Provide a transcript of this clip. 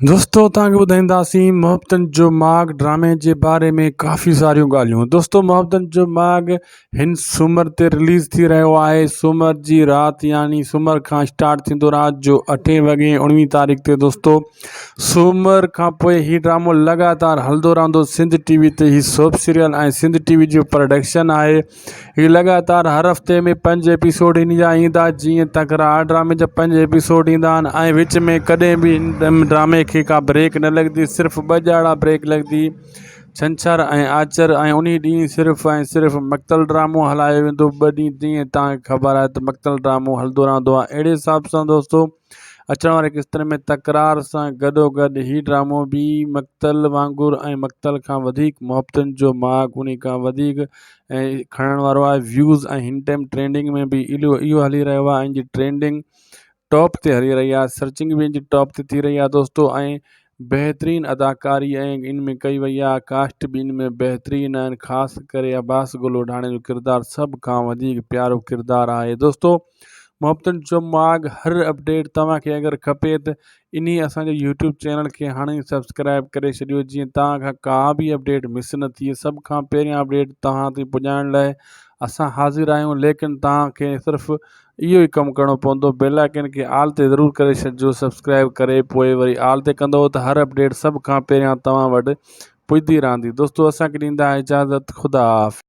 دوستو توهان کي ٻڌائينداسين محبتن جو ماڳ ڊرامي جي باري ۾ ڪافي ساريون ڳالهيون دوستو محبتن جو ماڳ هن سومر تي رليز ٿي رهيو آهي سومر جي رات يعني سومر کان اسٽارٽ ٿيندو رات جو اٺين وڳي اڻويهين تاريخ تي دوستو سومر کان پوء هي ڊرامو لڳاتار هلندو رهندو سنڌ ٽي وي تي هي سوپ سيريل ۽ سنڌ ٽي وي جو پروڊڪشن آهي هي لڳاتار هر هفتي ۾ پنج ايپيسوڊ هن جا ايندا جيئن تڪرار ڊرامي جا پنج ايپيسوڊ ايندا آهن ۽ وچ ۾ ڪڏهن به هن ڊرامي کي ڪا بريڪ نه لڳندي صرف ٻه ڄاڙا بريڪ لڳندي ڇنڇر ۽ آچر ۽ انهي ڏينهن صرف ۽ صرف مڪتل ڊرامو هلايو ويندو ٻه ڏينهن جيئن توهان کي خبر آهي ته مڪتل ڊرامو هلندو رهندو آهي اهڙي حساب سان دوستو اچڻ وارين قسطن ۾ تڪرار سان گڏوگڏ هي ڊرامو به مقتل وانگر ۽ مقتل کان وڌيڪ محبتن جو ماڳ انهي کان وڌيڪ کڻڻ وارو آهي ويوز ۽ هن ٽائيم ٽرينڊنگ ۾ به اهو هلي رهيو آهي ان جي ٽرينڊنگ ٽاپ تي هلي رهي آهي سرچنگ به ان جي ٽاپ تي ٿي رهي آهي دوستو ۽ بهترين اداڪاري ۽ ان ۾ ڪئي وئي آهي ڪاسٽ به ان ۾ بهترين آهن خاص ڪري عباس گل وڍاڻي جو ڪردار سڀ کان وڌيڪ پيارو ڪردار آهي دوستو محبتن جو ماڳ هر اپڊيٽ توهان کي اگر کپي ته انهي اسان جو يوٽيوب چينل کي هاڻي سبسڪرائب ڪري ڇڏيو جيئن توهان کان ڪا به اپڊيٽ مس نه ٿئي سڀ کان پهريان اپڊيٽ توهان تي پڄائڻ لاء اسان حاضر آهيون ليڪن توهان کي صرف اهو ئي ڪم ڪرڻو پوندو بيل آئڪن کي آل تي ضرور ڪري ڇڏجو سبسڪرائب ڪري پوء وري آل تي ڪندو ته هر اپڊيٽ سڀ کان پهريان توهان وٽ پڄدي رهندي دوستو اسان کي ڏيندا اجازت خدا حافظ.